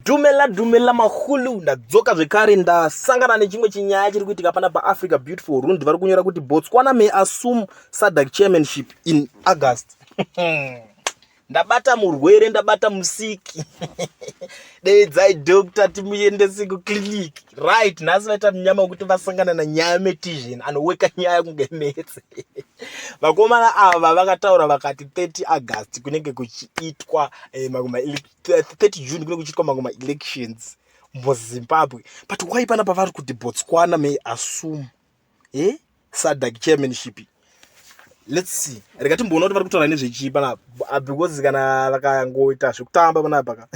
Dumela dumela mahulu ndadzoka zvekare ndasangana nechimwe chinyaya chiri kuitika pana paafrica beautiful rund vari kunyora kuti botswana may assume sadac chairmanship in august ndabata murwere ndabata musiki deidzai doctor timuendese kuclinic right nhasi vaita munyama wekuti vasangana nanyaya metizhen anoweka nyaya kunge metse vakomana ava vakataura vakati 30 august kunenge kuchiitwa eh, 30 june kunenge kuchiitwa mamwe maelections muzimbabwe but why pana pavari kuti botswana may assume e eh? sadak chairmanship let's see rega timboona kuti vari kutaura nezvechii panapa ah, because kana vakangoita zvekutamba panapa ka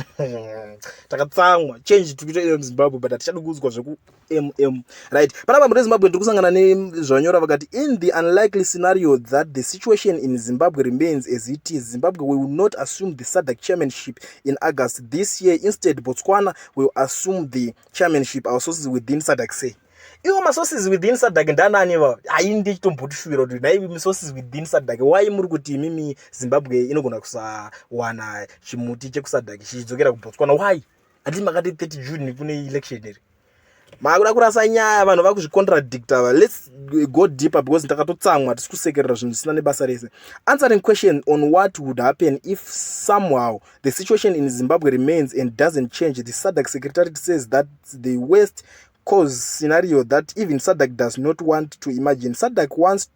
takatsamwa change tikuita iyo muzimbabwe but hatichadi kuudzwa zveku mm right panapa mune zimbabwe ndiri kusangana nezvanyora vakati in the unlikely scenario that the situation in zimbabwe remains as it is zimbabwe will not assume the sadac chairmanship in august this year instead botswana will assume the chairmanship our sources within sadac say iwo masources within sadac ndanani va hai ndichitombotishuwira kuti nai masources within sadac why muri kuti imimi zimbabwe inogona kusawana chimuti chekusadac chichidzokera kubotswana why hati makati 30 june kune election here makuda kurasa nyaya vanhu vakuzvicontradicta va lets go deeper because ndakatotsamwa tisi kusekerera zvinhu zvisina nebasa rese answering question on what would happen if somehow the situation in zimbabwe remains and doesn't change the sadac secretary says that the west cause scenario that even sadac does not want to imagine sadac wants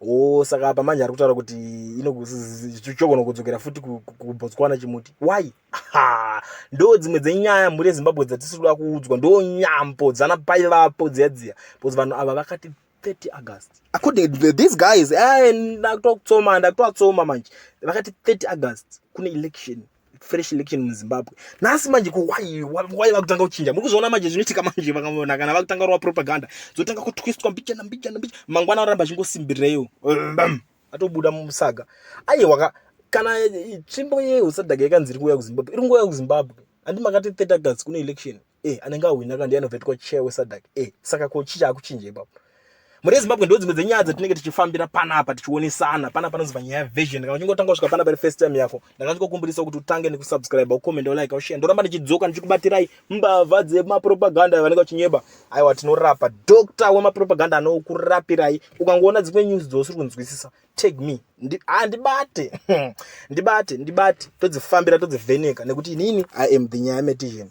oh saka apa manje ari kutaura kuti inogona kudzokera futi kubotswana chimuti why ha ndo dzimwe dzenyaya mhuri yezimbabwe dzatisiri kuda kuudzwa ndo nyambo dzana pai vapo dziya dziya because vanhu ava vakati 30 august according to these guys eh, ndakutotsoma ndakutovatsoma manje vakati 30 august kune election fresh election muzimbabwe nhasi manje ko why why vakutanga kuchinja muri kuzviona manje zvinoitika manje vakavona kana vakutanga kurova propaganda dzotanga kutwistwa mbichana mbichana mbichana mangwana oramba achingosimbirireyo atobuda musaga aye waka kana tsvimbo yehusadhaka yakanzi iri kuuya kuzimbabwe iri nguva yakuzimbabwe handi makati 30 august kune election e anenge ahwina kana ndiye anovetwa chair wesadak e saka ko chii chaakuchinja ipapo mhuri yezimbabwe ndo dzimwe dzenyaya dzatinenge tichifambira panapa tichionesana pana panozova nyaya yavision kana uchingotanga kusvika panapa ri first time yako ndakazvikokumbirisa kuti utange nekusubscribe ucomment ulike ushare ndoramba ndichidzoka ndichikubatirai mbavha dzemapropaganda vanenge vachinyeba aiwa tinorapa doctor wemapropaganda anokurapirai ukangoona dzimwe news dzousiri kunzwisisa tag me handibate ndibate ndibate todzifambira todzivheneka nekuti inini i am the nyaya metizheni